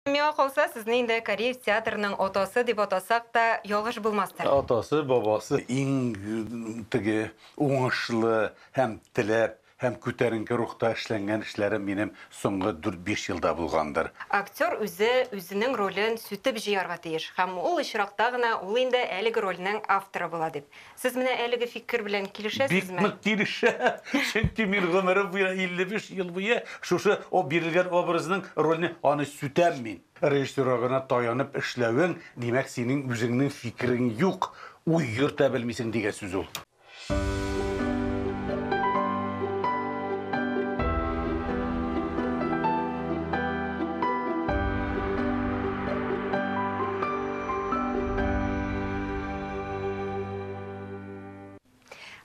Миңа калса, сезне инде кореец театрының атасы дип атасак та, ялгыш булмастыр. Атасы, бабасы, иң теге уңышлы һәм теләп, һәм күтәренке рухта эшләнгән эшләрем минем соңгы дүрт-биш елда булгандыр. Актер үзе үзенең ролен сүтеп җыярга тиеш, һәм ул очракта гына ул инде әлеге рольнең авторы була, дип. Сез менә әлеге фикер белән килешәсезме? Бик нык килешә, чөнки мин гомерем буена 55 ел буе шушы о бирелгән образның рольне аны сүтәм мин. Режиссерга гына таянып эшләвең, димәк, синең үзеңнең фикерең юк, уй йөртә белмисең дигән сүз ул.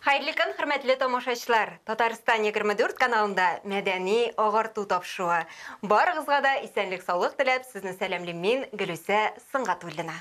Хәерле көн, хөрмәтле тамашачылар! Татарстан 24 каналында мәдәни агарту тапшыруы. Барыгызга да исәнлек-саулык теләп, сезне сәламлим мин, Гөлүсә Сынгатуллина.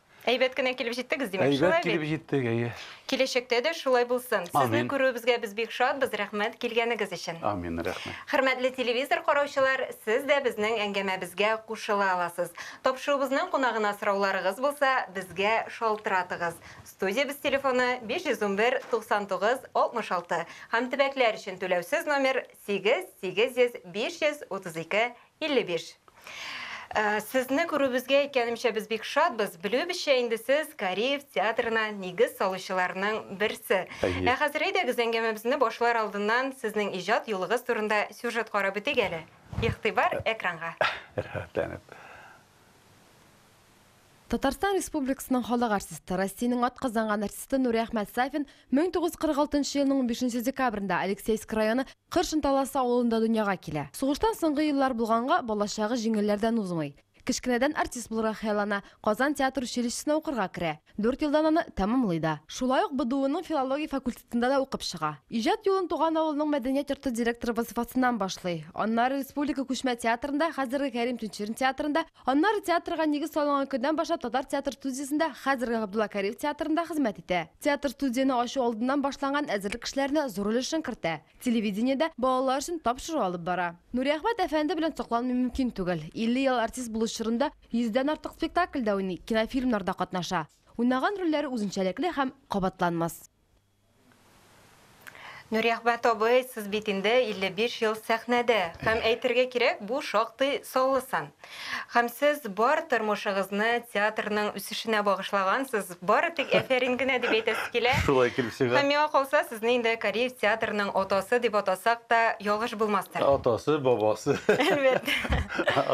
Әйбәт кенә килеп җиттегез, димәк, Әйбәт шулай бит? Әйбәт килеп җиттек, әйе. Киләчәктә дә шулай булсын. Сезне күрүебезгә без бик шатбыз, рәхмәт килгәнегез өчен. Амин, рәхмәт. Хөрмәтле телевизор караучылар, сез дә безнең әңгәмәбезгә кушыла аласыз. Тапшыруыбызның кунагына сорауларыгыз булса, безгә шалтыратыгыз. Студиябез телефоны 511 99 66 һәм төбәкләр өчен түләүсез номер 8 800 532 55. Сезне күрүебезгә, әйткәнемчә, без бик шатбыз. Белүебезчә, инде сез Кариев театрына нигез салучыларның берсе. Әйе. Ә хәзер әйдәгез, әңгәмәбезне башлар алдыннан сезнең иҗат юлыгыз турында сюжет карап үтик әле. Игътибар, экранга! Рәхәтләнеп. Татарстан Республикасының халык артисты, Россиянең атказанган артисты Нури Әхмәт Сафин 1946 елның 15 декабрендә Алексеевск районы Кыр Шынталасы авылында дөньяга килә. Сугыштан соңгы еллар булганга, балачагы җиңелләрдән узмый. Кечкенәдән артист булырга хыяллана, Казан театр училищесына укырга керә. Дүрт елдан аны тәмамлый да. Шулай ук БДУның филология факультетында да укып чыга. Иҗат юлын туган авылның мәдәният йорты директоры вазыйфасыннан башлый. Аннары республика күчмә театрында, хәзерге Кәрим Тинчурин театрында, Аннары театрга нигез салынган көннән башлап Татар театр студиясендә, хәзерге Габдулла Кариев театрында хезмәт итә. Театр-студияне ачу алдыннан башланган әзерлек эшләренә зур өлешен кертә. Телевидениедә балалар өчен тапшыру алып бара. Нуриәхмәт әфәнде белән сокланмый мөмкин түгел. 50 ел артист булу чорында йөздән артык спектакльдә уйный, кинофильмнарда катнаша. Уйнаган рольләре үзенчәлекле һәм кабатланмас. Нуриәхмәт абый, сез бит инде 55 ел сәхнәдә. Һәм әйтергә кирәк, бу шактый саллы сан. Һәм сез бар тормышыгызны театрның үсешенә багышлагансыз. Бары тик әфәрин генә дип әйтәсе килә. Шулай килеп чыга. Һәм миңа калса, сезне инде Кариев театрының атасы дип атасак та ялгыш булмастыр. Атасы, бабасы. Әлбәттә.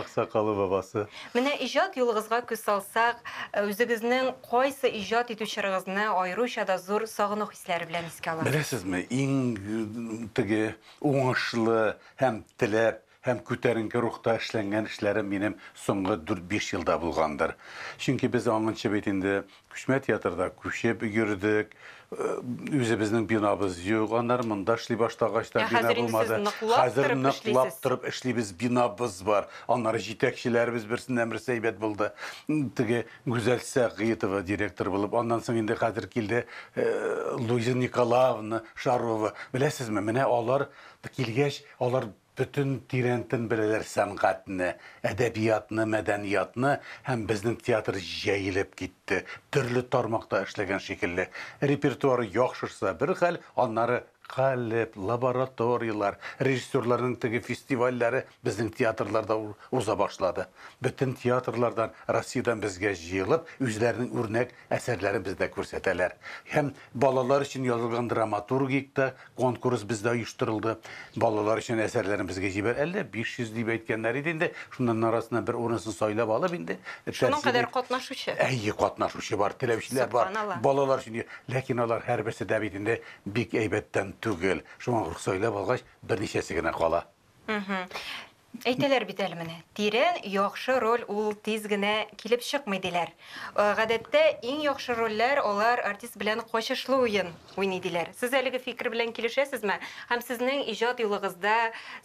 Аксакалы, бабасы. Менә иҗат юлыгызга күз салсак, үзегезнең Кайсы иҗат итү чорыгызны аеруча да зур сагыну хисләре белән искә аласыз? Беләсезме, иң теге уңышлы һәм теләп, һәм күтәренке рухта эшләнгән эшләрем минем соңгы дүрт-биш елда булгандыр. Чөнки без аңынчы бит инде күчмә театрда күчеп йөрдек, үзебезнең бинабыз юк, аннары монда эшли башлагач та бина булмады. Ә хәзер инде сез ныклап торып эшлисез? Хәзер ныклап торып эшлибез, бинабыз бар, аннары җитәкчеләребез берсеннән-берсе әйбәт булды. Теге Гүзәл Сәгыйтова директор булып, аннан соң инде хәзер килде Луиза Николаевна Шарова. Беләсезме, менә алар килгәч, алар бөтен тирәнтен беләләр сәнгатьне, әдәбиятны, мәдәниятны һәм безнең театр җәелеп китте, төрле тармакта эшләгән шикелле. Репертуары яхшырса бер хәл, аннары Галип, лабораторияләр, режиссерларның теге фестивальләре безнең театрларда уза башлады. Бөтен театрлардан, Россиядән безгә җыелып, үзләренең үрнәк әсәрләрен бездә күрсәтәләр. Һәм балалар өчен язылган драматургик та конкурс бездә оештырылды. Балалар өчен әсәрләрен безгә җибәр, әллә 500 дип әйткәннәр иде инде, шуннан арасыннан бер урынысын сайлап алып инде, Шуның кадәр катнашучы? Әйе, катнашучы бар, теләүчеләр бар. Сокланалар. Балалар өчен, ләкин алар һәрберсе дә бит инде Бик әйбәттән түгел. Шуңа рөхсайлап алгач, берничәсе генә кала. Әйтәләр бит әле менә, тирән, яхшы роль ул тиз генә килеп чыкмый, диләр. Гадәттә, иң яхшы рольләр алар артист белән качышлы уен уйный, диләр. Сез әлеге фикер белән килешәсезме? Һәм сезнең иҗат юлыгызда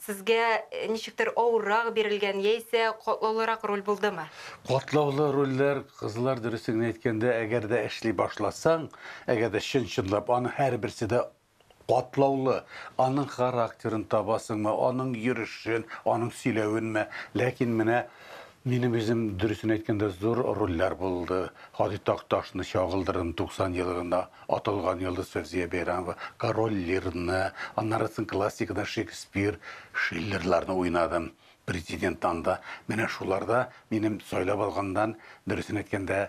сезгә ничектер авыррак бирелгән яисә катлаулырак роль булдымы? Катлаулы рольләр, кызлар, дөресен генә әйткәндә, әгәр дә эшли башласаң, әгәр дә чын-чынлап, аның һәрберсе дә катлаулы. Аның характерын табасыңмы, аның йөрешен, аның сөйләвенме? Ләкин менә минем үзем, дөресен әйткәндә, зур рольләр булды. Һади Такташны чагылдырдым, 90 елына аталган йолдыз Фәүзия Бәйрәмова, Король Лирны, аннары соң классикадан Шекспир, Шиллерларны уйнадым. Президент анда, менә шуларда минем сайлап алганнан, дөресен әйткәндә,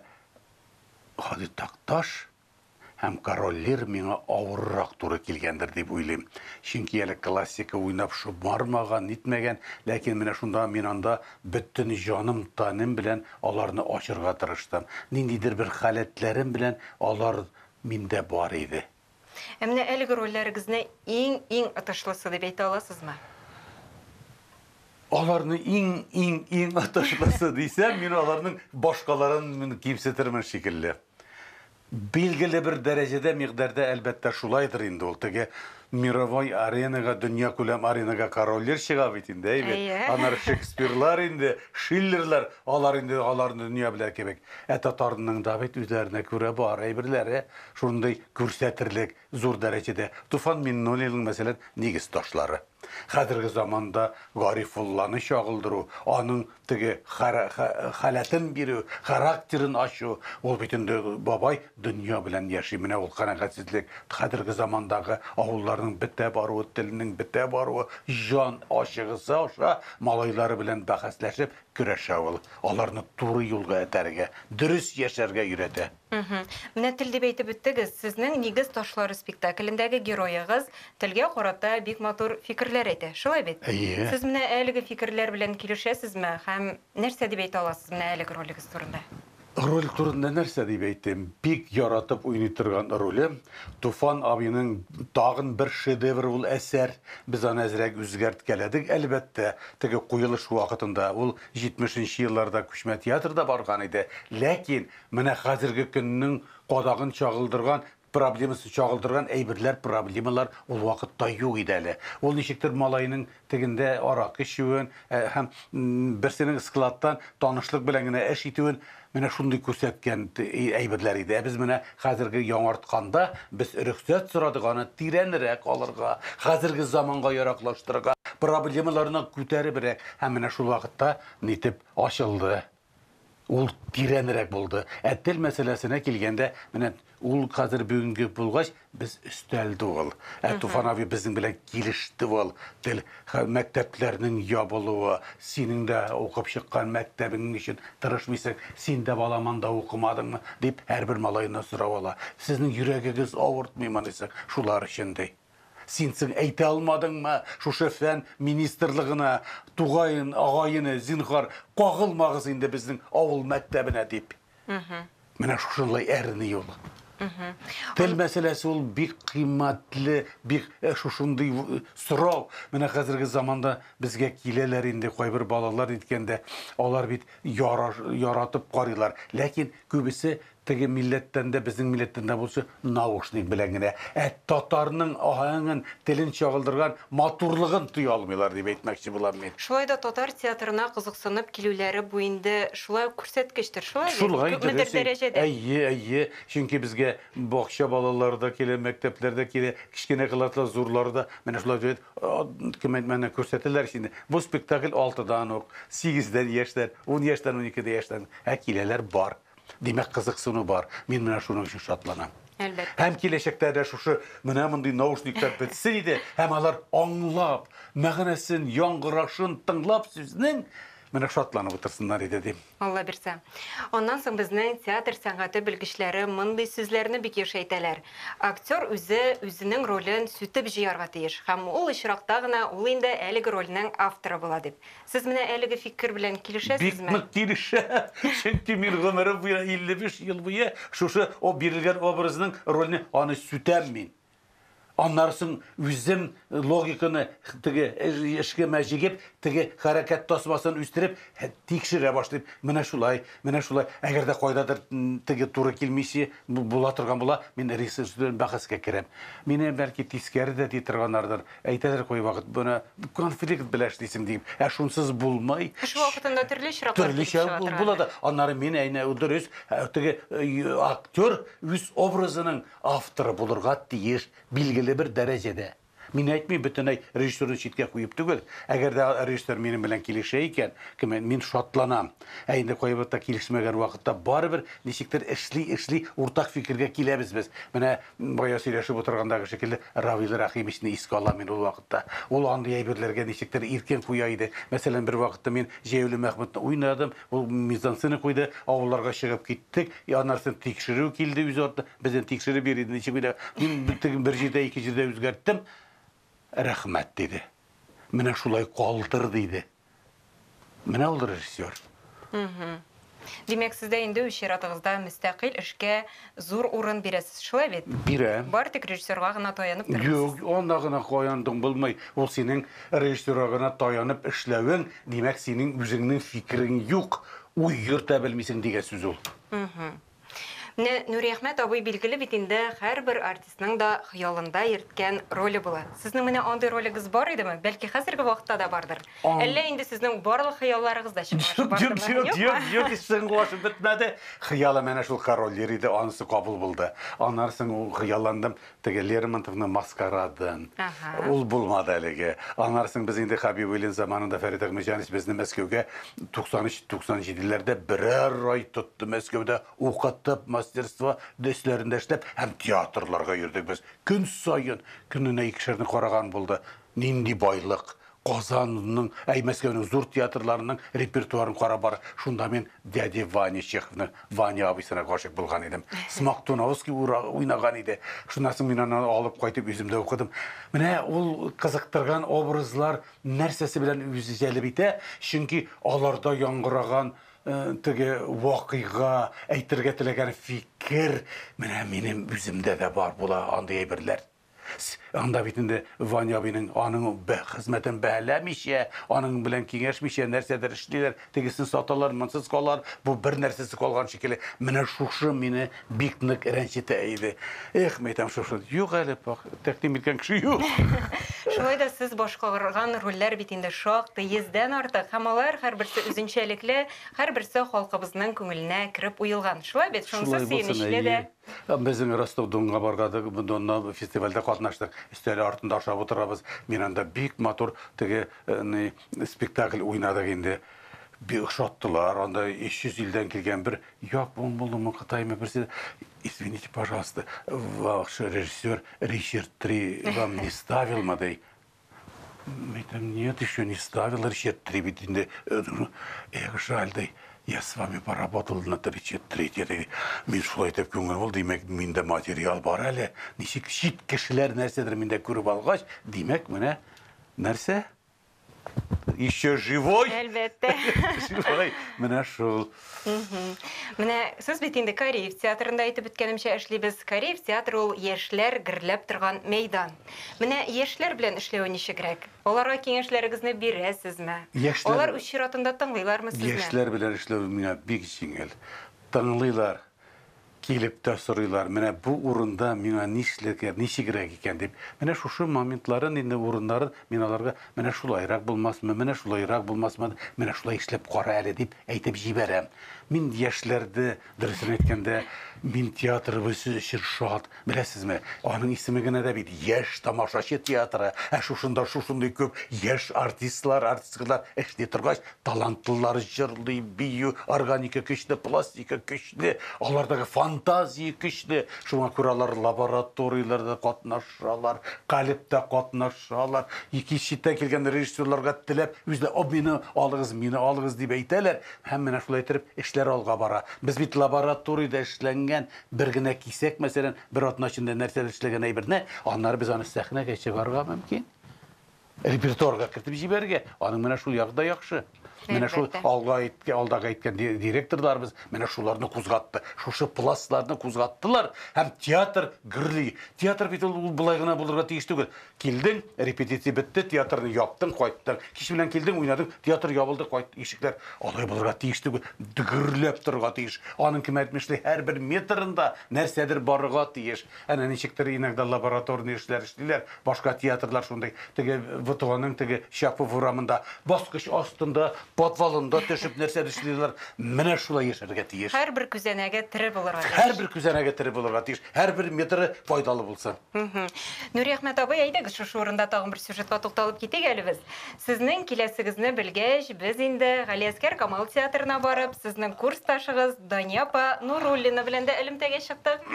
Һади Такташ һәм Король Лир миңа авыррак туры килгәндер дип уйлыйм. Чөнки әле классика уйнап шомармаган, нитмәгән, ләкин менә шунда мин анда бөтен җаным-тәнем белән аларны ачырга тырыштым. Ниндидер бер халәтләрем белән алар миндә бар иде. Ә менә әлеге рольләрегезне иң-иң отышлысы дип әйтә аласызмы? Аларны иң-иң-иң отышлысы дисәм, мин аларның башкаларын кимсетермен шикелле. Билгеле бер дәрәҗәдә, мигъдәрдә, әлбәттә, шулайдыр инде ул. Теге мировой аренага, дөньякүләм аренага корольләр чыга бит инде, әй бит. Әйе. Аннары Шекспирлар инде, Шиллерлар, алар инде аларны дөнья белә кебек. Ә татарның да бит үзләренә күрә бар әйберләре. Шундый күрсәтерлек зур дәрәҗәдә Туфан Миңнуллинның, мәсәлән, Нигез ташлары. Хәзерге заманда Гарифулланы чагылдыру, аның теге халәтен бирү, характерын ачу, ул бит инде бабай дөнья белән яши, менә ул канәгатьсезлек, хәзерге замандагы авылларның бетә баруы, телнең бетә баруы, җан ачыгысы аша малайлары белән бәхәсләшеп көрәшә ул, аларны туры юлга этәрергә, дөрес яшәргә өйрәтә. Мгм. Менә тел дип әйтеп үттегез. Сезнең Нигез ташлары спектаклендәге героегыз телгә карата бик матур фикерләр әйтә. Шулай бит? Әйе. Сез менә әлеге фикерләр белән килешәсезме һәм нәрсә дип әйтә аласыз менә әлеге ролегез турында? Роль турында нәрсә дип әйтим? Бик яратып уйный торган ролем. Туфан абыйның тагын бер шедевры ул әсәр. Без аны әзрәк үзгәрткәләдек, әлбәттә. Теге куелыш вакытында ул 70 нче елларда Күчмә театрда барган иде. Ләкин Менә хәзерге көннең кадагын чагылдырган, проблемасын чагылдырган әйберләр, проблемалар ул вакытта юк иде әле. Ул ничектер малайның тегендә аракы эчүен һәм берсенең складтан танышлык белән генә эш итүен менә шундый күрсәткән әйберләр иде. Ә без менә хәзерге яңартканда без рөхсәт сорадык аны тирәнрәк алырга, хәзерге заманга яраклаштырырга, проблемаларны күтәребрәк. Һәм менә шул вакытта нитеп ачылды. Ул тирәнрәк булды. Ә тел мәсьәләсенә килгәндә, менә ул хәзер бүгенге булгач, без өстәл түгел. Ә Туфан абый безнең белән килеште ул. Тел мәктәпләрнең ябылуы, синең дә укып чыккан мәктәбең өчен тырышмыйсың, син дә балам анда укымадыңмы, дип һәрбер малайны сорап ала. Сезнең йөрәгегез авыртмыймы, анысы, шулар өчен, ди. Син соң әйтә алмадыңмы шушы фән министрлыгына, Тугаен, агаене, зинһар, кагылмагыз инде безнең авыл мәктәбенә дип? Менә шушынлай әрни ул. Тел мәсьәләсе ул бик кыйммәтле, бик э, шушындый э, сорау. Менә хәзерге заманда безгә киләләр инде кайбер балалар әйткәндә, алар бит яра- яратып карыйлар, ләкин күбесе Теге милләттән дә, безнең милләттән дә булсы, наушник белән генә ә татарның аһәңен, телен чагылдырган матурлыгын тоя алмыйлар, дип әйтмәкче булам мин. Шулай да татар театрына кызыксынып килүләре бу инде шулай ук күрсәткечтер, шулай бит? Шулай, дөрес. Күпмедер дәрәҗәдә. Әйе, әйе. Чөнки безгә бакча балалары да килә, мәктәпләр дә килә, кечкенә класслар, зурлары да менә шулай дип әйтеп, кем әйтмәгән, күрсәтәләр ич инде. Бу спектакль алтыдан ук, сигездән яшьтән, ун яшьтән, уникедә яшьтән, ә киләләр бар. Димәк, кызыксыну бар. Мин менә шуның өчен шатланам. Әлбәттә. Һәм киләчәктә дә шушы менә мондый наушниклар бетсен иде, һәм алар аңлап, мәгънәсен, яңгырашын тыңлап сүзнең менә шатланып утырсыннар иде, дим. Алла бирсә. Аннан соң безнең театр сәнгате белгечләре мондый сүзләрне бик еш әйтәләр, Актер үзе үзенең ролен сүтеп җыярга тиеш, һәм ул очракта гына ул инде әлеге рольнең авторы була, дип. Сез менә әлеге фикер белән килешәсезме? Бик нык килешә, чөнки мин гомерем буена 55 ел буе шушы о бирелгән образның рольне аны сүтәм мин. Аннары соң үзем логиканы теге эшкемә җигеп, теге хәрәкәт тасмасын үстереп тикшерә башлыйм. Менә шулай, менә шулай. Әгәр дә кайдадыр теге туры килмичи була торган була, мин режиссер белән бәхәскә керәм. Мине бәлки тискәре дә ди торганнардыр. Әйтәләр кайвакыт, моны конфликт белән эшлисең дип, ә шунсыз булмый. Эш вакытында төрле очраклар килеп чыга торгандыр. Төрлечә була да. Аннары мин әйнә дөрес, теге актер үз образының авторы булырга тиеш, билгеле бер дәрәҗәдә. Мин әйтмим, бөтенләй режиссерны читкә куеп түгел. Әгәр дә режиссер минем белән килешә икән, мин шатланам. Ә инде кайбер та килешмәгән вакытта барыбер ничектер эшли-эшли уртак фикергә киләбез без. Менә бая сөйләшеп утыргандагы шикелле Равил Рәхимичны искә алам мин ул вакытта. Ул андый әйберләргә ничектер иркен куя иде. Мәсәлән, бер вакытта мин Җәяүле Мәхмүтне уйнадым, ул мизансцена куйды, авылларга чыгып киттек, аннарсын тикшерү килде үз артыннан, безне тикшереп йөри иде, ничек уйнарга. Мин теге бер җирдә, ике җирдә үзгәрттем. Рәхмәт, диде. Менә шулай калдыр, диде. Менә ул режиссер. Мхм. Димәк, сез дә инде үз чиратыгызда мөстәкыйль эшкә зур урын бирәсез, шулай бит? Бирәм. Бары тик режиссерга гына таянып тормыйсыз. Юк, анда гына каяндың булмый. Ул синең режиссерга гына таянып эшләвең, димәк, синең үзеңнең фикерең юк, уй йөртә белмисең дигән сүз ул. Мхм. Менә Нуриәхмәт абый билгеле бит инде, һәрбер артистның да хыялында йөрткән роле була. Сезнең менә андый ролегез бар идеме? Бәлки хәзерге вакытта да бардыр? Әллә инде сезнең барлык хыялларыгыз да чынга ашып бардымы? Юк, юк, юк, юк, һич чынга ашып бетмәде. Хыялым әнә шул король йөри иде, анысы кабул булды. Аннары соң хыялландым, Теге Лермонтовны маскарадын. Ул булмады әлеге. Аннары соң без инде Хәбибуллин заманында Фәрит Әхмәтҗанович безне Мәскәүгә 93-97 ләрдә берәр ай тотты Мәскәүдә укытып, мастерство өсләрендә эшләп һәм театрларга йөрдек без. Көн саен, көненә икешәрне караган булды. Нинди байлык! Казанның, ә Мәскәүнең зур театрларының репертуарын карап бар. Шунда мин Дядя Ваня Чеховның Ваня абыйсына гашыйк булган идем. Смоктуновский уйнаган иде. Шуннан соң мин аны алып кайтып үзем дә укыдым. Менә ул кызыктырган образлар нәрсәсе белән үзе җәлеп итә, чөнки аларда яңгыраган теге вакыйга, әйтергә теләгән фикер, менә минем үземдә дә бар була андый әйберләр. С, Анда бит инде Ваня абыйның аның бә, хезмәтен бәһаләмичә, аның белән киңәшмичә нәрсәдер эшлиләр, тегесен саталар, монсыз калалар, бу бер нәрсәсез калган шикелле. Менә шушы мине бик нык рәнҗетә иде. Эх, мәйтәм, шушы. Юк әле, пакь, тәкъдим иткән кеше юк. Шулай да сез башкарган рольләр бит инде шактый, йөздән артык, һәм алар һәрберсе үзенчәлекле, һәрберсе халкыбызның күңеленә кереп уелган. Шулай бит, шунысы Шулай булсын, сөенечле дә. әйе. Безнең Ростов-Донга бардык, Донна фестивальдә катнаштык. Өстәле артында ашап утырабыз. Мин анда бик матур теге ни спектакль уйнадык инде. Бик ошаттылар. Анда 300 илдән килгән бер япон булдымы, кытаймы берсе. Извините, пожалуйста, ваш режиссер Ричард Три вам не ставил модель? Митам, нет, еще не ставил речет три, ведь инде, э, ну, эх, жаль, да, я с вами поработал на речет три, теперь мин шулай деп күңел булды, димәк, миндә материал бар әле, ничек чит кешеләр нәрсәдер миндә күреп алгач, димәк, менә нәрсә? Еще живой? Әлбәттә. Шулай, менә шул. Мгм. Менә сез бит инде Кариев театрында әйтеп беткәнемчә эшлибез. Кариев театры ул яшьләр герләп торган мәйдан. Менә яшьләр белән эшләве ничегрәк? Аларга киңәшләрегезне бирәсезме? Яшьләр- Алар үз чиратында тыңлыйлармы сезне? Яшьләр белән эшләү миңа бик җиңел. Тыңлыйлар. Килеп тә сорыйлар, менә бу урында миңа нишләргә, ничегрәк икән дип. Менә шушы моментларын инде, урыннарын мин аларга, менә шулайрак булмасмы, менә шулайрак булмасмы, менә шулай эшләп кара әле, дип әйтеп җибәрәм. Мин яшьләрдә, дөресен әйткәндә, мин театрыбыз өчен шат. Беләсезме, аның исеме генә дә бит Яшь тамашачы театры. Ә шушында шушындый күп яшь артистлар, артисткалар эшли торгач, талантлылар җырлый, бию, органика көчле, пластика көчле. Де, алардагы фантазия көчле, шуңа күрә алар лабораторияләрдә катнашалар, калебтә катнашалар, икенче читтән килгән режиссерларга теләп, үзләре, О, мине алыгыз, мине алыгыз, дип әйтәләр, һәм менә шулай иттереп эшләр алга бара. Без бит лабораториядә эшләнгән бер генә кисәк, мәсәлән, бер атна эчендә нәрсәдер эшләгән әйберне, аннары без аны сәхнәгә чыгарырга мөмкин. Репертуарга кертеп җибәрергә, аның менә шул ягы да яхшы. Менә шул алга әйткән, алдагы әйткән директорларыбыз менә шуларны кузгатты. Шушы пластларны кузгаттылар һәм театр гөрли. Театр бит ул болай гына булырга тиеш түгел. Килдең, репетиция бетте, театрны яптың, кайттың. Кич белән килдең, уйнадың, театр ябылды, кайт, ишекләр. Алай булырга тиеш түгел. Гөрләп торырга тиеш. Аның кемәтмешли һәрбер метрында нәрсәдер барырга тиеш. Әнә ничектер иногда лабораторный эшләр эшлиләр, башка театрлар шундый, теге ВТОның теге Чапов урамында баскыч астында, подвалында төшеп нәрсәдер эшлиләр, менә шулай яшәргә тиеш. Һәрбер күзәнәге тере булырга тиеш. Һәрбер күзәнәге тере булырга тиеш, һәрбер метры файдалы булсын. Нуриәхмәт абый, әйдәгез шушы урында тагын бер сюжетка тукталып китик әле без. Сезнең киләсегезне белгәч, без инде Галиәсгар Камал театрына барып, сезнең курсташыгыз Дания апа Нуруллина белән дә элемтәгә чыктык.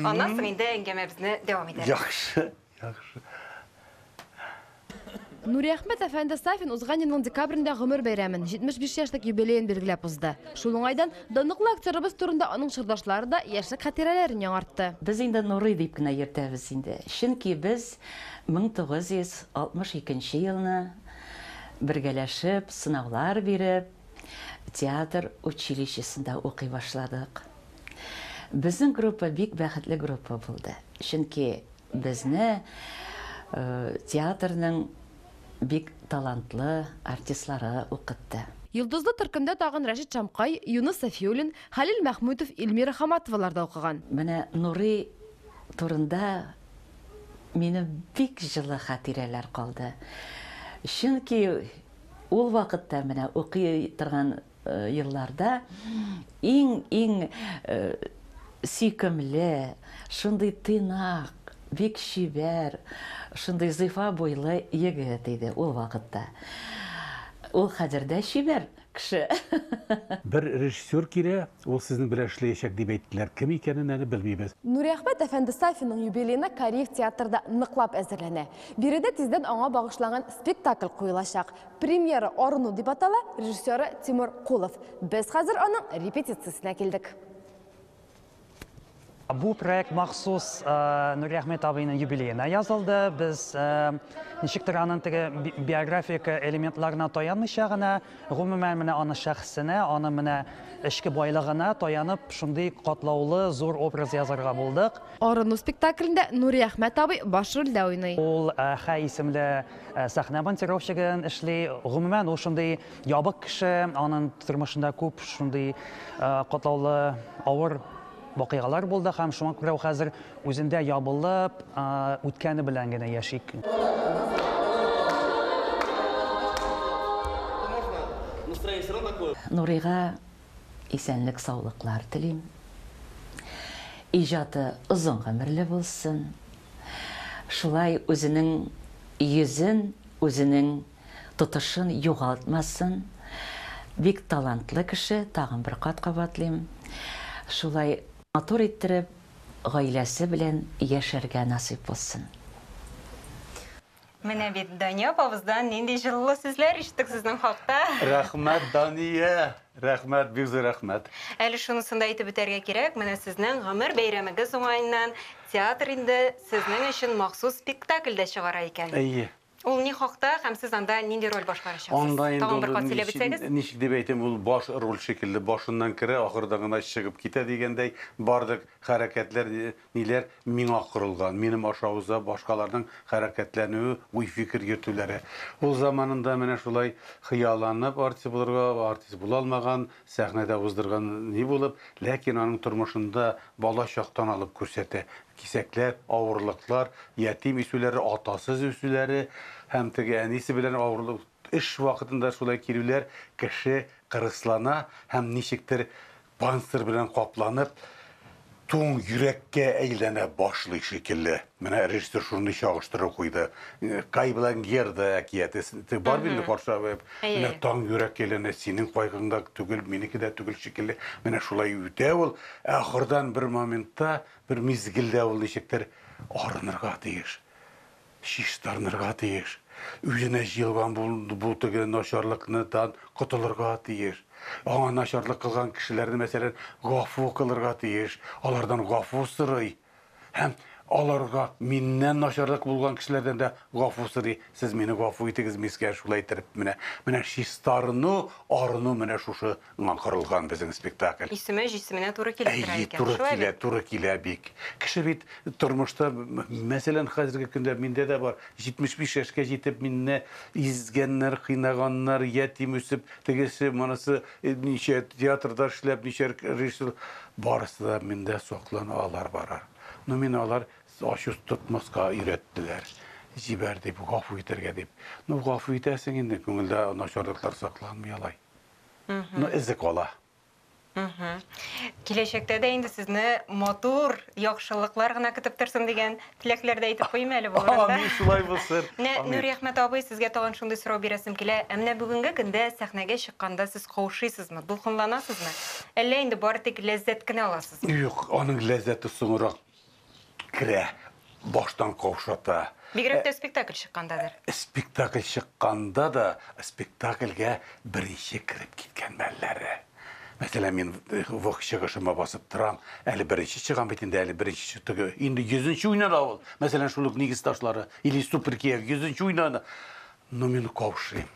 Аннан соң инде әңгәмәбезне дәвам итәбез. Яхшы, яхшы. Нуриәхмәт әфәнде Сафин узган елның декабрендә гомер бәйрәмен, 75 яшьлек юбилеен билгеләп узды. Шул уңайдан данлыклы актерыбыз турында аның чордашлары да яшьлек хатирәләрен яңартты. Без инде Нурый дип кенә йөртәбез инде, чөнки без Мең тугыз йөз алтмыш икенче елны бергәләшеп сынаулар биреп, театр училищесында укый башладык. Безнең группа бик бәхетле группа булды, чөнки безне театрның бик талантлы артистлары укытты. Йолдызлы төркемдә тагын Рәшит Шамкай, Юныс Сафиуллин, Хәлил Мәхмүтов, Ильмира Хаматовалар да укыган. Менә Нурый турында Минем бик җылы хатирәләр калды. Чөнки ул вакытта менә укый торган елларда иң-иң сөйкемле, шундый тыйнак, бик чибәр, шундый зифа буйлы егет иде ул вакытта. Ул хәзер дә чибәр, кеше. Бер режиссер килә, ул сезнең белән эшләячәк, дип әйттеләр. Кем икәнен әле белмибез. Нуриәхмәт әфәнде Сафинның юбилеена Кариев театрда ныклап әзерләнә. Биредә тиздән аңа багышланган спектакль куелачак. Премьера Арыну дип атала, режиссеры Тимур Кулов. Без хәзер аның репетициясенә килдек. Бу проект махсус э, Нуриахмед абыйның юбилеена язылды. Без э, ничектер аның теге биографик элементларына таянмыйча гына, гомумән менә аның шәхесенә, аның менә эчке байлыгына таянып, шундый катлаулы зур образ язарга булдык. Арыну спектаклендә Нуриахмед абый баш рольдә уйный. Ул э, Хә исемле сәхнә монтировщигын эшли. Гомумән ул шундый Ябык кеше, анын тормышында күп шундый катлаулы авыр вакыйгалар булды һәм шуңа күрә ул хәзер үзендә ябылып, үткәне белән генә яши. Нурыйга исәнлек саулыклар телим. Иҗаты озын гомерле булсын. Шулай үзенең йөзен, үзенең тотышын югалтмасын, бик талантлы кеше, тагын бер кат кабатлыйм, шулай матур иттереп гаиләсе белән яшәргә насыйп булсын. Менә бит Дания апабыздан нинди җылылы сүзләр ишеттек сезнең хакта. Рәхмәт, Дания! Рәхмәт, бик зур рәхмәт! Әле шунысын да әйтеп үтәргә кирәк, менә сезнең гомер бәйрәмегез уңаеннан театр инде сезнең өчен махсус спектакль дә чыгара икән. Әйе. Ул ни хакта һәм сез анда нинди роль башкарачаксыз? Тагын бер кат сөйләп үтсәгез. Анда инде ул ничек дип әйтим, ул баш роль шикелле, башыннан керә, ахырда гына чыгып китә дигәндәй, барлык хәрәкәтләр, ниләр миңа корылган, минем аша уза, башкаларның хәрәкәтләнүе, уй-фикер йөртүләре. Ул заманында менә шулай хыялланып артист булырга, артист була алмаган, сәхнәдә уздырган ни булып, ләкин аның тормышында бала чактан алып күрсәтә, Кисәкләр, авырлыклар, ятим үсүләре, атасыз үсүләре һәм теге әнисе белән авырлык, эш вакытында шулай килүләр, кеше кырыслана һәм ничектер панцирь белән капланып, туң йөрәккә әйләнә башлый шикелле. Менә режиссер шундый чагыштыру куйды. Кай белән Герда әкияте, теге бар бит инде патша абый, менә таң йөрәккә әйләнә, синең кайгың да түгел, минеке дә түгел шикелле. Менә шулай үтә ул, ә ахырдан бер моментта Бер мизгелдә ул ничектер арынырга тиеш, чистарынырга тиеш, үзенә җыелган бу теге начарлыкныдан котылырга тиеш. Аңа начарлык кылган кешеләрне, мәсәлән, гафу кылырга тиеш, алардан гафу сорый һәм аларга миннән начарлык булган кешеләрдән дә гафу сорый. Сез мине гафу итегез, мискә шулай иттереп менә. Менә чистарыну, арыну менә шушы Ңа корылган безнең спектакль. Исеме җисеменә туры килеп тора Әйе, икән, туры шулай килә, бит? туры килә бик. Кеше бит тормышта, мәсәлән, хәзерге көндә миндә дә бар, 75 яшькә җитеп минне изгәннәр, кыйнаганнар, ятим үсеп, тегесе, монысы ничә театрда эшләп, ничә режиссер, барысы да миндә саклана алар барар. Но мине алар ачу тотмаска өйрәттеләр. Җибәр дип, гафу итәргә дип. Ну, гафу итәсең инде, күңелдә начарлыклар сакланмый алай. Ну, эзек вала. Киләчәктә дә инде сезне матур, яхшылыклар гына көтеп торсын дигән теләкләр дә әйтеп куйыйм әле бу урында. Амин, шулай булсын. Менә Нури Әхмәт абый, сезгә тагын шундый сорау бирәсем килә. Ә менә бүгенге көндә сәхнәгә чыкканда сез каушыйсызмы, дулкынланасызмы? Әллә инде бары тик ләззәт кенә аласызмы? Юк, аның ләззәте соңрак керә, баштан каушата. Бигрәк тә спектакль чыкканда дер. Спектакль чыкканда да спектакльгә беренче кереп киткән мәлләре. Мәсәлән, мин э, вак чыгышыма басып торам, әле беренче чыгам бит инде, әле беренче чыгы. Инде йөзенче уйнана ул. Мәсәлән, шул ук нигез ташлары или супер кияү йөзенче уйнана. Но мин каушыйм.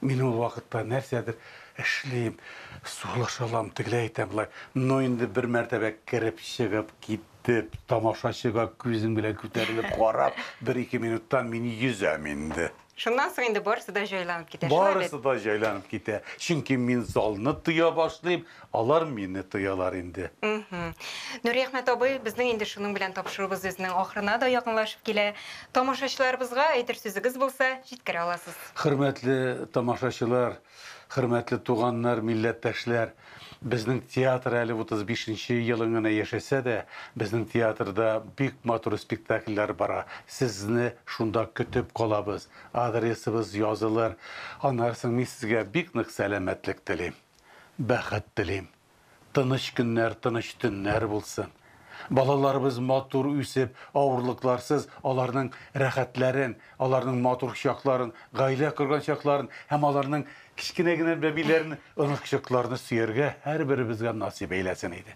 Мин ул вакытта нәрсәдер эшлим, сулыш алам, тегеләй әйтәм, болай. Ну, инде бер мәртәбә кереп чыгып китеп, тамашачыга күзем белән күтәрелеп карап, бер-ике минуттан мин йөзәм инде. Шуннан соң инде барысы да җайланып китә, шулай бит? Барысы да җайланып китә. Чөнки мин залны тоя башлыйм. Алар мине тоялар инде. Мхм. Нуриәхмәт абый, безнең инде шуның белән тапшыруыбыз үзенең ахырына да якынлашып килә. Тамашачыларыбызга әйтер сүзегез булса, җиткерә аласыз. Хөрмәтле тамашачылар, хөрмәтле туганнар, милләттәшләр! Безнең театр әле 35 нче елын гына яшәсә дә, безнең театрда бик матур спектакльләр бара. Сезне шунда көтеп калабыз. Адресыбыз язылыр. Аннары соң мин сезгә бик нык сәламәтлек телим. Бәхет телим. Тыныч көннәр, тыныч төннәр булсын. Балаларыбыз матур үсеп, авырлыкларсыз аларның рәхәтләрен, аларның матур чакларын, гаилә корган чакларын һәм аларның кечкенә генә бәбиләрен, оныкчыкларны сөяргә һәрберебезгә насыйп әйләсен иде.